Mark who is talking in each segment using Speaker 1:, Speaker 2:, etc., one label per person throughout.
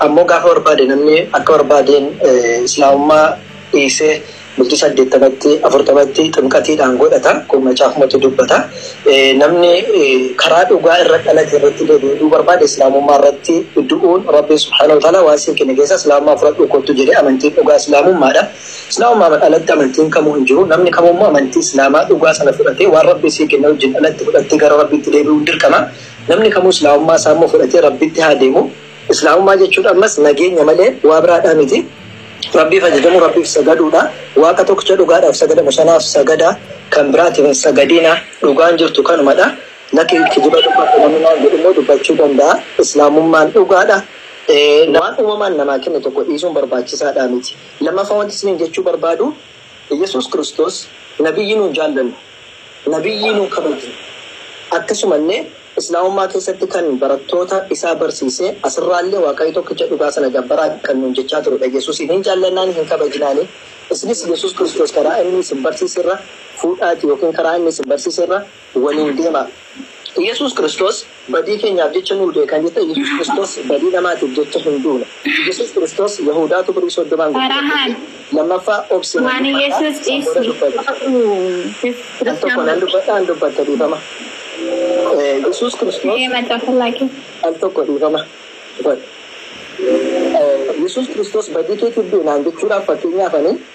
Speaker 1: Ammoo gaafa barbaade namni akka barbaadeen Islaamummaa dhiisee bultii 80tti, 40tti ximqatiidhaan godhata. Kun macaafumatu dubbata. Namni karaa dhugaa irra dhalate irratti deebi'ee du'uu barbaade Islaamummaa irratti du'uun Rabbiin subhaanahu wa ta'aalaa waan siin kenne keessaa Islaamummaa fudhadhuu kottu jedhe. Amantiin dhugaa Islaamummaadha. Islaamummaan alatti amantiin kamuu hin jiru. Namni kamuu immoo amantii Islaamaa dhugaa sana fudhatee waan Rabbiin sii kenne wajjin alatti fudhattee gara Rabbiitti deebi'uun dirqama. Namni kamuu Islaamummaa isaa immoo fudhatee Rabbitti haa deemu. Islaamummaa jechuun ammas nageenya malee waa biraadhaa miti. Rabbiif ajajamuu, Rabbiif sagaduudha. Waaqa tokkicha dhugaadhaaf sagadamu sanaaf sagadaa, kan biraatiif hin sagadinaa. Dhugaan jirtu kanumadha. Lakki kijiba dubbadhu namni naan jedhu immoo dubbachuu danda'a. Islaamummaan dhugaadha. Waan uumamaan namaa kenne tokko dhiisuun barbaachisaadhaa miti. Lammaffaa wanti isiniin jechuu barbaadu, Iyyasuus Kiristoos Nabiyyi nuun jaallannu. Nabiyyii nuu kabaji. Akkasumallee Islaamummaa keessatti kan barattoota isaa barsiise asirraallee Waaqayyo tokkicha dhugaa sana gabbaraa kan nuun jechaa turedha. Yesuusiin hin jaallannaanii hin kabajnaanii? Isinis Yesuus Kiristoos karaa inni isin barsiiserra fuudhaatii ykn karaa inni isin barsiiserra waliin deemaa. Yesuus Kiristoos. Badii keenyaaf jecha nuu du'e kan jette Yesuus Kiristoos badii namaatiif jecha hin duune. Yesuus Kiristoos Yahuudaatu birrii soddomaan gurgure jedhe. Lammaffaa obsi nan dubbadha san booda
Speaker 2: dubbadhu. Al
Speaker 1: tokko nan dubbadha an dubbatta dhiifama. Yesuus Kiristoos al tokko dhiifama godhi. Yesuus Kiristoos badii keetiif du'e naan jechuudhaaf fakkeenyaaf ani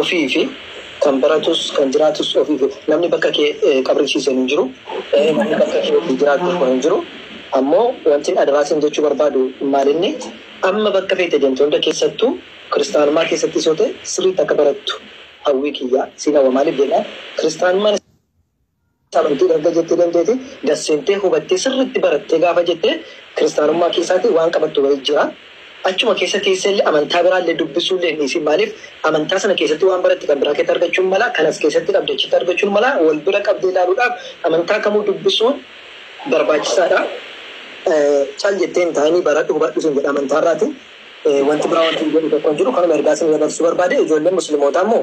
Speaker 1: Ofiifi. Kan baratus kan jiraatus ofiifi. Namni bakka kee qabriisiise hin jiru. Namni bakka kee ofii jiraatu tokko hin jiru. Ammoo wantin adaraa siin jechuu barbaadu maalinni, amma bakka feete deemte hunda keessattuu kiristaanummaa keessattis yoo ta'e sirriitti akka barattu hawwii kiyya. Siin hawwa. Maaliif jennaan kiristaanummaan. Amantii erga jettee dandeete, gad-seentee hubattee sirriitti barattee gaafa jette kiristaanummaa keessaati waan qabattu wayii jira. Achuma keessa teessee illee amantaa biraa illee dubbisuu illee hin dhiisiin maaliif amantaa sana keessatti waan baratte kan biraa keetti argachuun mala, kan as keessatti qabde achitti argachuun mala wal bira qabdee ilaaluudhaaf amantaa kamuu dubbisuun barbaachisaa dha. Cal jettee hin taa'inii baradhu hubadhu siin jedha amantaa irraati. Wanti biraa wantin jedhu tokko hin jiru kanuma ergaa isinii dabarsuu barbaade. Ijoolleen muslimootaa immoo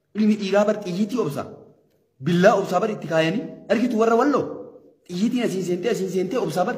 Speaker 3: Ilmi dhiiraa bar xiyyiitii obsa. Billaa obsaa bar itti kaayanii. Argitu warra walloo. Xiyyiitiin asiin seentee asiin seentee obsaa bar.